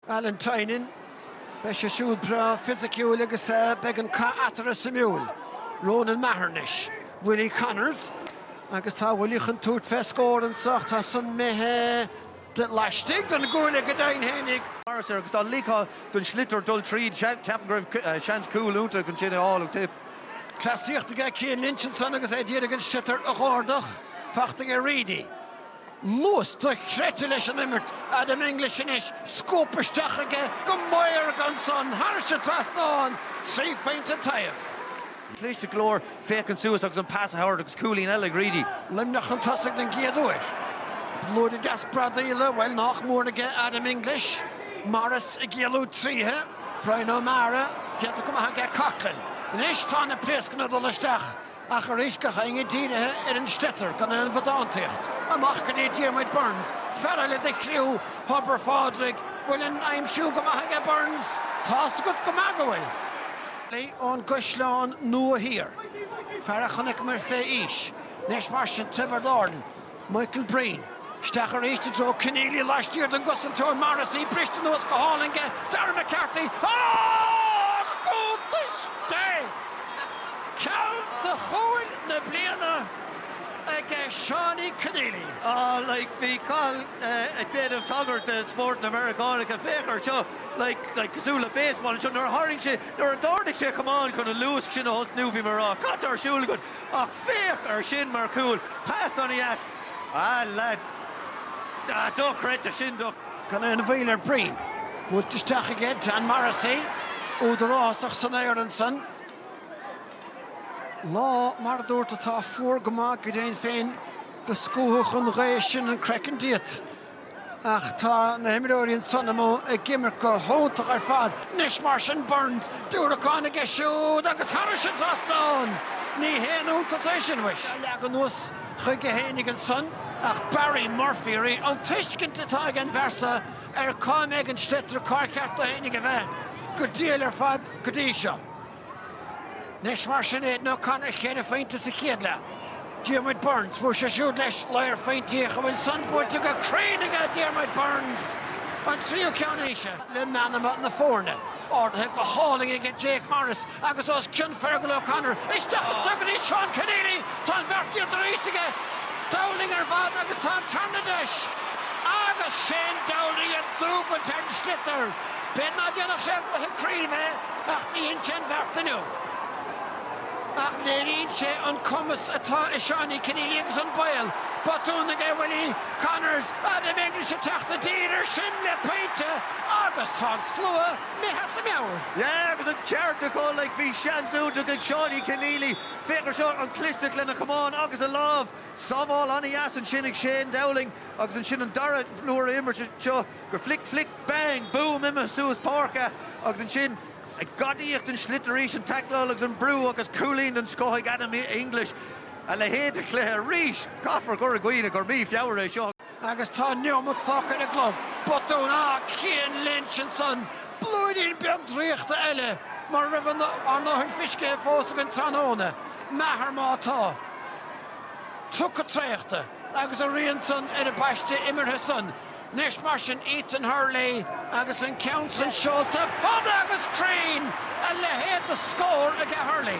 Alan Tynan, Beidh sé siúd breá fisiciúil agus beidh an cath eatarthu suimiúil. Ronan Maher anois. Willie Connors, Agus tá Willie chun tabhairt fé scór anseo ach tá san imithe de laistigh den gcuaille go deimhin fhéinig ach. Morris air agus tá ligthe don sliotar dul tríd. Ceapaim go raibh seans cúl iontach ansin a fháil ag Tipp. Cleasaíocht aige Cian Lynch ansan agus é ag iarraidh an sliotar a dh'ardach. Faighte aige Reidy. Luas dochreidte leis an imirt, Adam English anois, scuabtha isteach aige go maorga ansan, thairis an trasnán, trí phointe an taobh. Cliste go leor féachaint suas agus an pas a thabhairt agus cúilín eile ag Reidy. Luimneach chun tosaigh den gcéad uair. Blúire deas bradaíola, bhuel, nách mór aige Adam English. Morris ag éalú tríothu. Bryan O'Mara, déanta go maith aige Coughlan. Anois tá na pléascanna ag dul isteach. Ach arís, gach éinne dírithe ar an sliotar gan aon bhodántaíocht. Amach go dtí Diarmuid Byrnes, fear eile de chriú Thobar Phádraig, bhfuil an aimsiú go maith aige Byrnes? Tá's agat go maith go bhfuil. Leigh ón gCaisleán Nua Thiar, fear a chonaiceamar fé aois, anois mar sin, Tiobraid Árann, Michael Breen. Isteach arís i dtreo Kenneally laistiar den gcosantóir Morrissey, briste anuas go hálainn aige Darragh McCarthy ach cuntasacht é! Ceann de chúil na bliana aige Seánie Kenneally. Like bhí Cathal ag déanamh tagairt de spórt na Meiriceánacha, féach air seo, like like cosúil le baseball anseo, nuair a tharraing sé, nuair a d'ardaigh sé a chamán chun an luasc sin a thosnú, bhí mé a rá, cad tá ar siúl agat? Ach féach ar sin mar chúl! Pas ana dheas! A leaid! Ah, dochreidte! Sin do. Gan aon mhoill ar Breen. Buailte isteach aige Dan Morrissey. Údarásach san aer ansan. Lá, mar a dúirt, atá fuar go maith, go deimhin féin do scumhfadh an ghaoth sin an craiceann díot. Ach tá na himreoirí ansan amuigh ag imirt go hiontach ar fad anois mar sin Byrnes, diúracán aige siúd agus thairis an trasnán! Ní haon iontas é sin muis. Leagan anuas chuige fhéinig ansan ach Barry Murphy arís, an tuiscint atá ag an bhfear so ar cá mbeidh an sliotar, cár cheart dó fhéinig a bheith, go diail ar fad go dtí seo. Anois mar sin Aidan O'Connor cheithre phointe sa chéad leath. Diarmuid Byrnes, fuair sé siúd leis ladhar phointí ach an bhfuil san buailte go cruinn aige Diarmuid Byrnes! An tríú ceann, treise le meanma na foirne. Ardaithe go hálainn aige Jake Morris agus os cionn Fergal O'Connor. Isteach anso go dtí Seán Kenneally! Tá an bheart déanta arís aige! Dowling ar bhfad agus tá an tarna deis! Agus Shane Dowling ag dúbailt ar an sliotar! B'fhéidir ná déanfadh sé i gcluiche craoibhe é ach dheineann sé an bheart inniu. Nach léiríonn sé an cumas atá i Seánie Kenneally agus an bhail. Botún aige Willie Connors, Adam English ag teacht i dtír ar sin le pointe agus tá an slua imithe as a meabhair. Yeah agus an ceart acu, like bhí seans iontach ag Seánie Kenneally, féach ar seo, an clisteacht lena chamán agus a lámh, sábháil an-deas ansin ag Shane Dowling agus ansin an dara huair a imirt seo, go flick bang boom imithe suas páirce agus ansin ag gadaíocht an sliotar arís, an taicleáil agus an brú agus cúilín den scoth ag Adam English. A leithéid de chluiche arís! Caithfear cur i gcuimhne gur mí Feabhra é seo. Agus tá neomat fágtha ag an gclog. Botún ag Cian Lynch ansan. Blúirín beag draíochta eile mar raibh ár ndóthain fiscithe fós againn tráthnóna, is maith ann atá. Tugtha traochta agus a rian san ar a bpaiste imeartha san. Anois mar sin, Ethan Hurley agus an ceann san seolta, fada agus cruinn! A leithéid de scór aige Hurley!